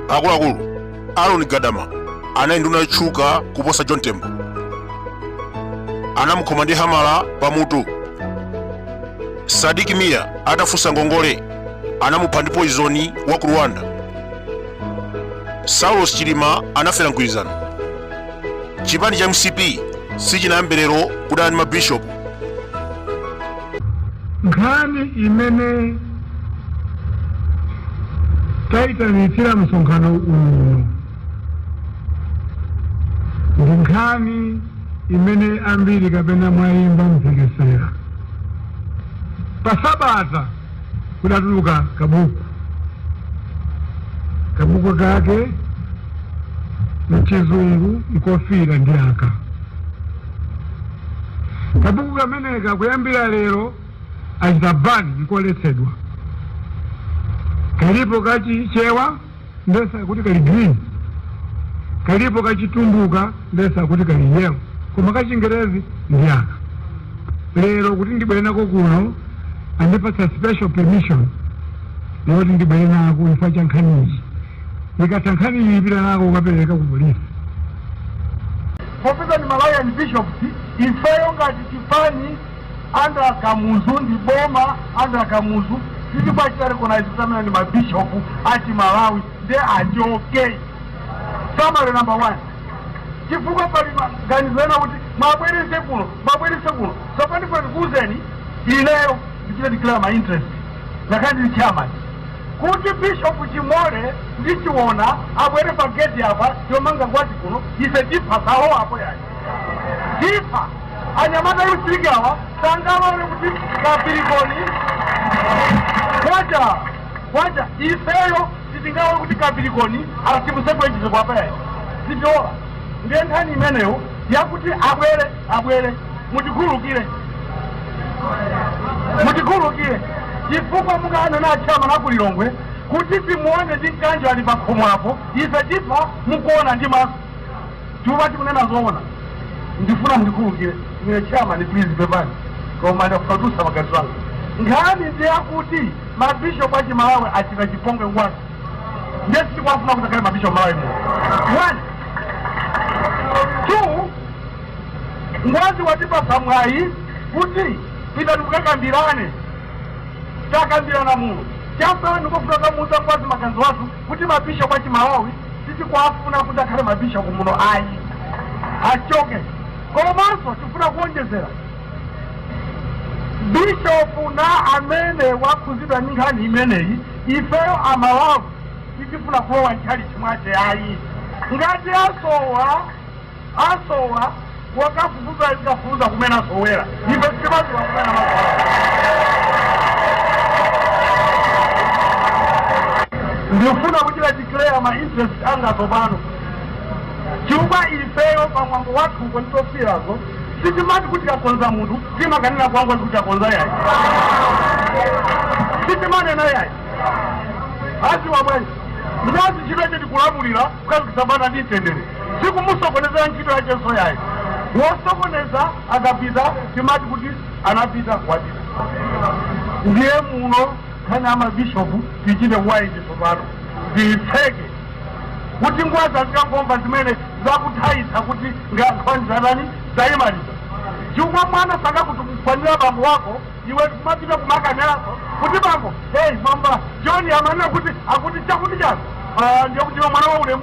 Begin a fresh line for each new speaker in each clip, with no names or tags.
akuluakulu aaron gadama anali nduna yotchuka kuposa john tembo anamukhoma ndi hamala pamutu sadiki miya atafunsa ngongole anamupha ndi poizoni wa ku rwanda saulos chilima anafera mgwirizano chipani cha mcp sichinayambe lero kudana ndi mabishopu
nkhani imene tayitanitsira msonkhano uno ndi nkhani imene ambiri kapena mwayimva mphekesera pa sabata kudatuluka kabuku kabuku kake mchizungu nkofiira ndi aka Kabuku kameneka kuyambira lero achita ban nkoletsedwa. Kalipo ka Chichewa ndiyesa kuti kali green, kalipo ka Chitumbuka ndiyesa kuti kali yellow, koma ka Chingerezi ndi aka. Lero kuti ndibwere nako kuno andipatsa special permission yoti ndibwere nako chifukwa cha nkhaniyi. Ndikatha nkhaniyi ndipita nako kukapereka ku polisi.
Popeza ndi Malawian Bishops ifeyo ngati chipani under Kamuzu ndi boma under Kamuzu sitikuwachita recognize kuti amene ndi ma bishop a chimalawi nde achoke summary number one chifukwa pali maganizo ena kuti mwabwerese kuno mwabwerese kuno sopano ndikuuzeni ineyo ndichita declare my interest ngakhale ndili chairman Kuti Bishop Chimole ndi Chiona abwere pa gate apa yomanga Ngwazi kuno ife tipha salowa apo yayi. Tipha. Anyamata a youth league awa sangalole kuti kapirikoni kwacha kwacha ifeyo sitingalole kuti kapirikoni asibuse kwenjise kwapa yayi. Sitilola. Ndiye nkhani imeneyo yakuti abwere abwere mutikhululukire mutikhululukire chifukwa mukanena a chairman a ku lilongwe kuti timuone ndi mkanjo ali pakhomo apo ife tipha mukuona ndi maso tipha tikunena zoona ndifuna mutikhululukire ine chairman please pepani koma ndafutusa magazi wanga nkhani ndi yakuti mabishopu a chimalawi achita chipongwe ngwazi nde sitikuwafuna kuti akhale mabishopu malawi muno one two Ngwazi watipatsa mwayi kuti pitani mukakambirane. Takambirana muno. Chatsala ndikufuna kukamuuza Ngwazi maganizo athu kuti mabishop a Chimalawi sitikuwafuna kuti akhale mabishop muno ayi. Achoke. Komanso tifuna kuonjezera bishopu na amene wakhuzidwa ni nkhani imeneyi ifeyo amalawi sitifuna kulowa ntchalichi mwace ayi ngati asowa asowa wakafufuza azikafufuza kumene wasowera ife sitimaziwa kumene amasowa ndifuna kuchita declare ma interest anga tsopano chifukwa ifeyo pamwambo wathu uko nditofirazo sitimati kuti tikakonza munthu timakanena kwangwa kuti takonza yayi sitimanena yayi aziwa bwanji ndazi chimene tikulamulira kukhazikisa bata ndi mtendere sikumusokonezera ntchito yachenso yayi wosokoneza akapita timati kuti anapita kwatha ndiye muno nkhani ya mabishopu tichite waiti tsopano tiyitseke kuti ngwazi azikangomva zimene zakutha izi kuti nkhani zatani tayimaliza chifukwa mwana akakutukwanira bambo wako iwe kumapita kumakanenanso kuti bambo hey bamba john amanena kuti akuti chakuti chani Ah, ndiye kuti iwe mwana wa ulemu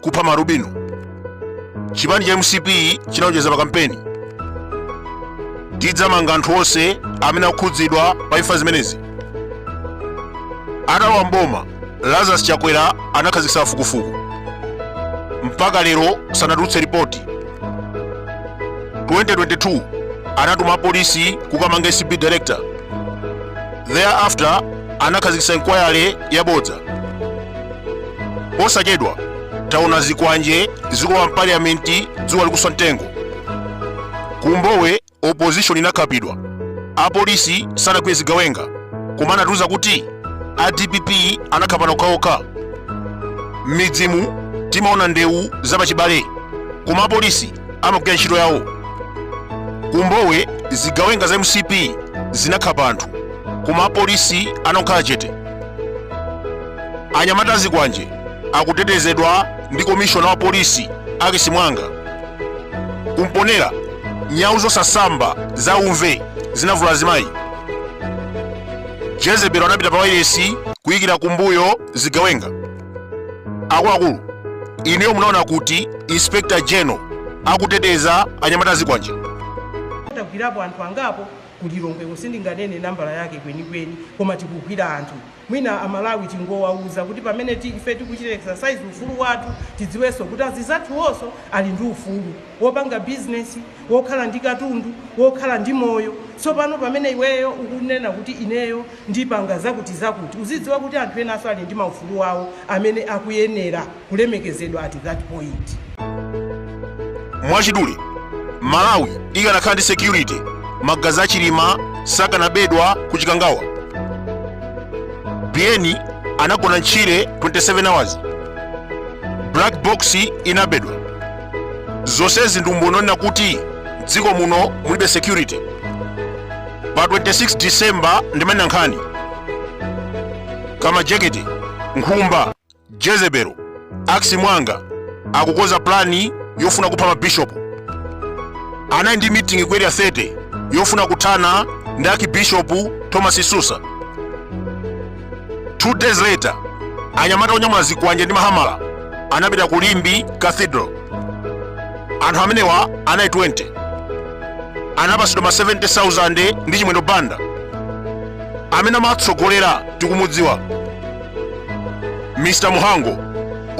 kupha maalubino chipani cha mcp chinalonjeza pa kampeni tidzamanga anthu onse amene akukhudzidwa pa imfa zimenezi atalowa mboma lazarus chakwera anakhazikitsa kafukufuku mpaka lero sanatulutse ripoti 2022 anatuma apolisi kukamanga acb director thereafter anakhazikitsa inquiry yabodza posachedwa taona zikwanje zikulowa mpaliyamenti dzuwa likuswa mtengo kumbowe opposition inakhapidwa apolisi sanagwire zigawenga koma anatiuza kuti a dpp anakhapana okhaokha m'midzimu timaona ndewu zapachibale koma apolisi amagwira ntchito yawo kumbowe zigawenga za mcp zinakhapa anthu koma apolisi anakhala chete anyamata azikwanje akutetezedwa ndi komishona wa polisi akisi mwanga kumponela nyawu zosasamba za umve zinavula azimayi jezebelo anapita pa wailesi kuyikira kumbuyo zigawenga akuluakulu ineyo munaona kuti inspector general akuteteza anyamata a zikwanje
tagwirapo anthu angapo ku lilongweko sindinganene nambala yake kwenikweni koma tikugwira anthu mwina amalawi tingowauza kuti pamene ti- ife tikuchita exercise ufulu wathu tidziwenso kuti anzathuwonso ali ndi ufulu wopanga bizinesi wokhala ndi katundu, wokhala ndi moyo. Tsopano pamene iweyo ukunena kuti ineyo ndipanga zakuti zakuti, uzidziwa kuti anthu enanso ali ndi maufulu awo amene akuyenera kulemekezedwa at that point.
Mwachidule, Malawi ikanakhala ndi security, magazi a Chilima sakanabedwa ku Chikangawa. Biyeni anagona m'tchire 27 hours. Black box inabedwa. zonsezi ndi umboni onena kuti mdziko muno mulibe security pa 26 december ndimanena nkhani kamlajekete nkhumba jezebelo axi mwanga akukonza pulani yofuna kupha mabishopu anali ndi mitingi ku area 30 yofuna kuthana ndi archbishop thomas msusa Two days later, anyamata onyamula zikwanje ndi mahamala anapita ku Limbe Cathedral. Anthu amenewa anali 20. Anapatsidwa ma 70,000 ndi Chimwendo Banda. Amene amatsogolera tikumudziwa. Mr. Muhango,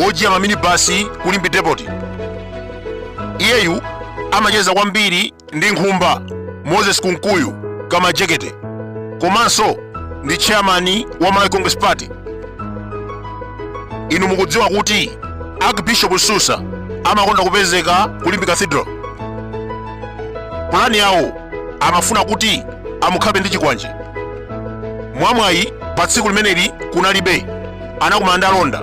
ojiya maminibasi ku Limbe Depot. Iyeyu amacheza kwambiri ndi nkhumba moses kunkuyu kamlajekete komanso ndi chairman wa malawi congress party inu mukudziwa kuti archbishop msusa amakonda kupezeka ku limbe cathedral pulani yawo amafuna kuti amukhape ndi chikwanje mwamwayi pa tsiku limeneli kunalibe anakumana ndi alonda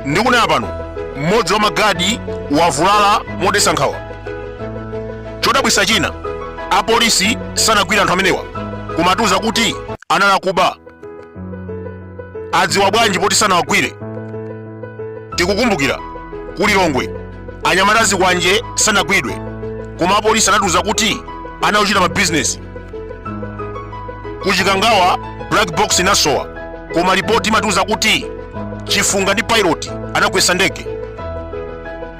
ndikunena pano mmodzi wa magadi wavulala modetsa nkhawa chodabwitsa china apolisi sanagwire anthu amenewa koma atiuza kuti anali akuba adziwa bwanji poti sanawagwire tikukumbukira ku lilongwe anyamata a zikwanje sanagwidwe koma apolisi anatiuza kuti anali ochita mabizinesi ku chikangawa black box inasowa koma lipoti imatiuza kuti chifunga ndi pilot anagwetsa ndege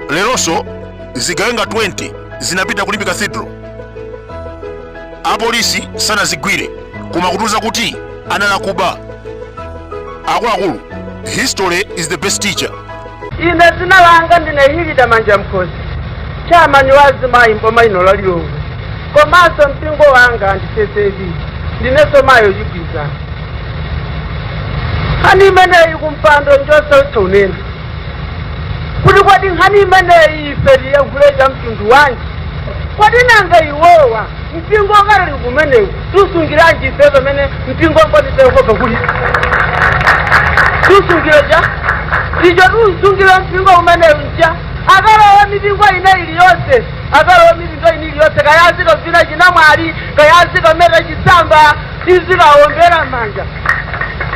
lelonso zigawenga 20 zinapita ku limbe cathedral apolisi sanazigwire koma akutiuza kuti anali akuba akuluakulu history is the best teacher ine
dzina langa ndine hilida manjamkhosi chairman wa azimayi mboma lino la lilongwe komanso mpingo wanga ndi ccap ndinenso mayi wachigwirizano nkhani imeneyi kumpando njosautsa kunena kuti kodi nkhani imeneyi ife tiyankhule cha mtundu wanji kodi nanga iwowa mpingo wa katolika umenewu tusungiranji ife pamene mpingo wa mboni za yehova kuli tusungire ja icho tusungire mpingo umenewu nja akalowa mipingo ina iliyonse akalowa mipingo ina iliyonse kaya azikavina chinamwali kaya azikameta chisamba tizikawombera mmanja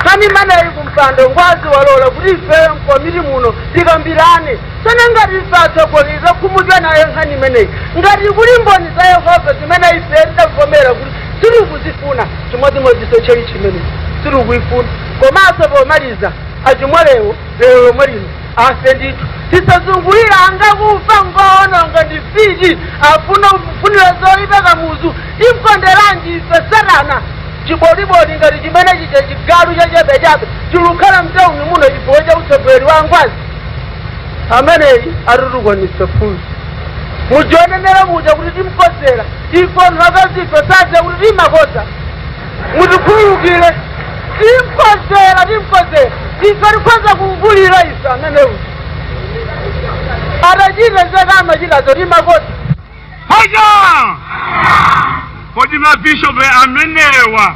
nkhani imeneyi kumpando ngwazi walola kuti ife mkomiti muno tikambirane Tsono ngati ife atsogoleri takhumudwa nayo nkhani imeneyi, ngati kuli mboni za Yehova zimene ife tidavomera kuti sitikuzifuna, chimodzimodzinso tchalitchi imeneyi sitikuyifuna. Komanso pomaliza, achimolewo lero lomwe lino afe ndithu. Tisazungulire ngakufa ngoononga ndi mfiti afuna kufunira zoyipa kamuzu timkonderanji ife satana chiboliboli ngati chimene chija chigalu chachabechabe chilukhala mtauni muno chifukwa cha utsogoleri wa ngwazi ameneyi atitukwanitsa phunzi muja wanenera muja kuti timkodzera ife anthu akazife sadziwa kuti timakodza mutikhululukire timkodzera timkodzera ife tikhoza kumvulira ife ameneyu atachita zake amachitazo timakodza Hoja!
Kodi mabishopu amenewa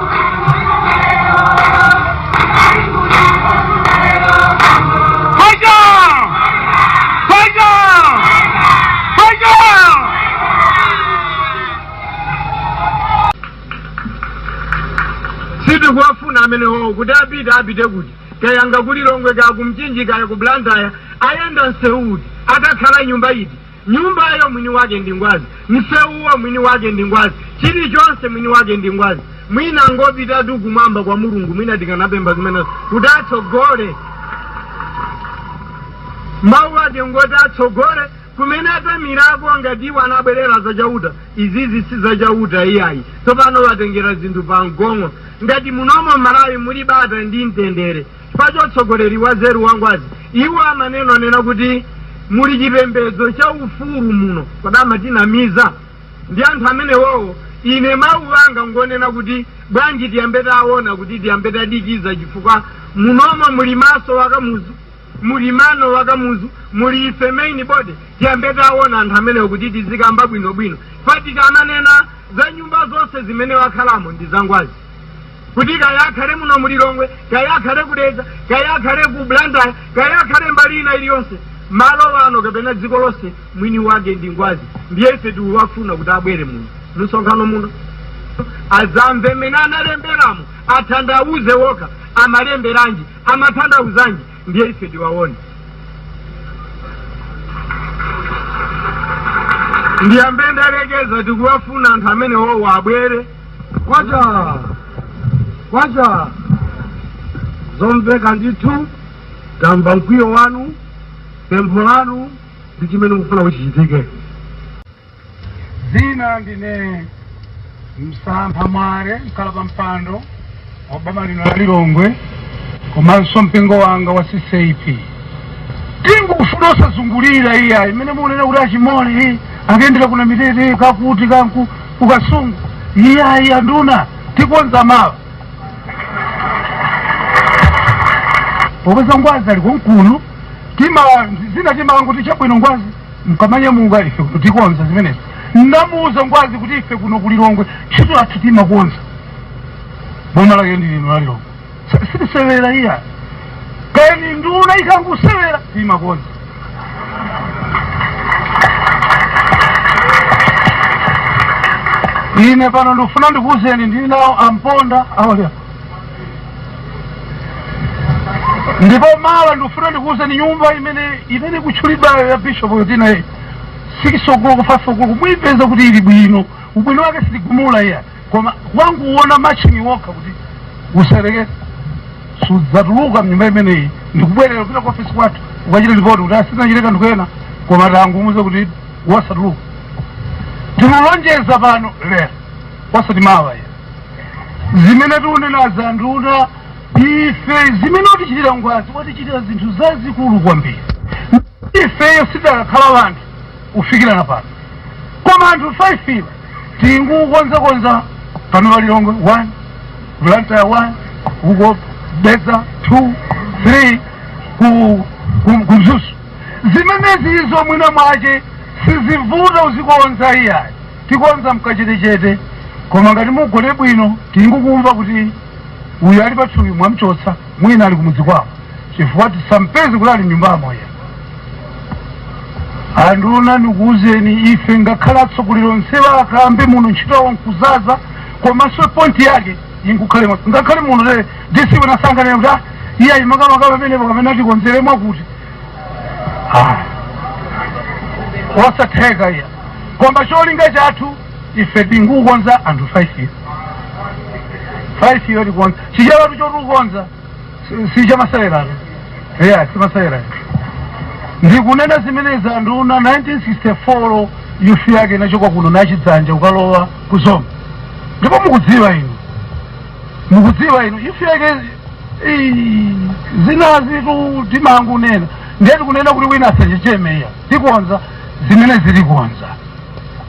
sitikuwafuna amenewo kuti apite apite kuti kaya nga ku lilongwe kaya kumchinji kaya ku blantyre ayenda msewu uti atakhala nyumba iti Nyumbayo mwini wake ndi Ngwazi, msewuwo mwini wake ndi Ngwazi, chilichonse mwini wake ndi Ngwazi. Mwina angopitatu kumwamba kwa Mulungu, mwina tikanapempha zimenezo kuti atsogole mawu ake ngoti atsogole kumene atamirako ngati iwo anabwerera za chauta izizi si za chauta iyayi tsopano watengera zinthu pa mgong'o ngati munomo m'malawi muli bata ndi mtendere chifukwa cha utsogoleri wanzeru wangwazi iwo amanena kunena kuti muli chipembedzo cha ufulu muno kodi amatinamiza ndi anthu amenewowo ine mawu anga ngonena kuti bwanji tiyambe taona kuti tiyambe tadikiza chifukwa munomo muli maso wakamuzu muli mano wakamuzu muli ife main body tiyambe taona anthu amenewo kuti tizikamba bwinobwino pakuti amanena za nyumba zonse zimene wakhalamo ndi zangwazi kuti kaya akhale muno mu lilongwe kaya akhale ku dedza kaya akhale ku blantyre kaya akhale mbali ina iliyonse malo ano kapena dziko lonse mwini wake ndi ngwazi ndiye ife tikuwafuna kuti abwere muno mumsonkhano muno azamve mmene analemberamo atanthauze wokha amalemberanji amatanthauzanji ndiye ife tiwaone ndiye apa ndalekeza tikuwafuna anthu amene wowo abwere kwacha kwacha zomveka ndithu tamva mkwiyo wanu pempho lanu ndi chimene mukufuna kuti chichitike zina ndine msampha mwale mkhala pa mpando wa boma lino la lilongwe komanso mpingo wanga wa ccap tingufuna osazungulira iyayi zimene mukunena kuti achimoli akuyendera kuna mitete kakuti kanku kukasungu iyayi anduna tikonza mawa popeza ngwazi ali kunkulu tima zina timanguti chabwino ngwazi mukamanyamuka ife kuno tikonza zimenezi ndamuuza ngwazi kuti ife kuno kulilongwe ntchito yathu timakonza boma lake ndi lino la lilongwe sitisewera iyayi kani nduna ikangusewera timakonza ine pano ndikufuna ndikuuzeni ndili nawo amponda awalera ndipo mawa ndikufuna ndikuuzeni nyumba imene ikutchulidwayo ya bishop yotinayi sikisogolo kufa sogolo muipeza kuti ili bwino ubwino wake sitigumula iyayi koma wangoona matchini wokha kuti usereke sudzatuluka mnyumba imeneyi ndikubwerera kupita ku ofisi kwathu ukachita lipoti kuti asinachite kanthu kena koma tangumuze kuti wasatuluka tikulonjeza pano lero osati mawa iyayi zimene tikunena anduna ife zimene watichitira ngwazi watichitira zinthu zazikulu kwambiri ifeyo sitidakakhala wanthu ufikirana pano koma anthu 5 iwa tingukonzakonza pano pa lilongwe 1 blantyre 1 uko dedza 2 3 ku ku- ku mzuzu zimenezi izo mwina mwake sizivuta uzikonza iyayi tikonza mkachetechete koma ngati mugone bwino tingukumva kuti uyu ali pathupi mwamchotsa mwina ali kumudzi kwawo chifukwa tisampeze kuti ali mnyumbamo iyayi anduna ndikuwuzeni ife ngakhale atsogoleri onsewa akambe muno ntchito yawo nkuzaza komanso pointi yake inkukhale mwa- ngakhale muno lero DC wina sanganene kuti ah, iye ayi makamaka pamenepo kapena atikonzere mwakuti Ah. osatheka iya koma cholinga chathu ife tingukonza anthu 5 years 5 years tikonza chichawatu chotukonza sichamaseweranso eya simasewera ndikunena zimenezi anduna 1964 youth yake inachoka kuno nachidzanja kukalowa ku Zomba ndipo mukudziwa inu mukudziwa inu youth yake
ii, zinazitu timangunena ndiye tikunena kuti wina asachechemeya tikonza zimene zilikonza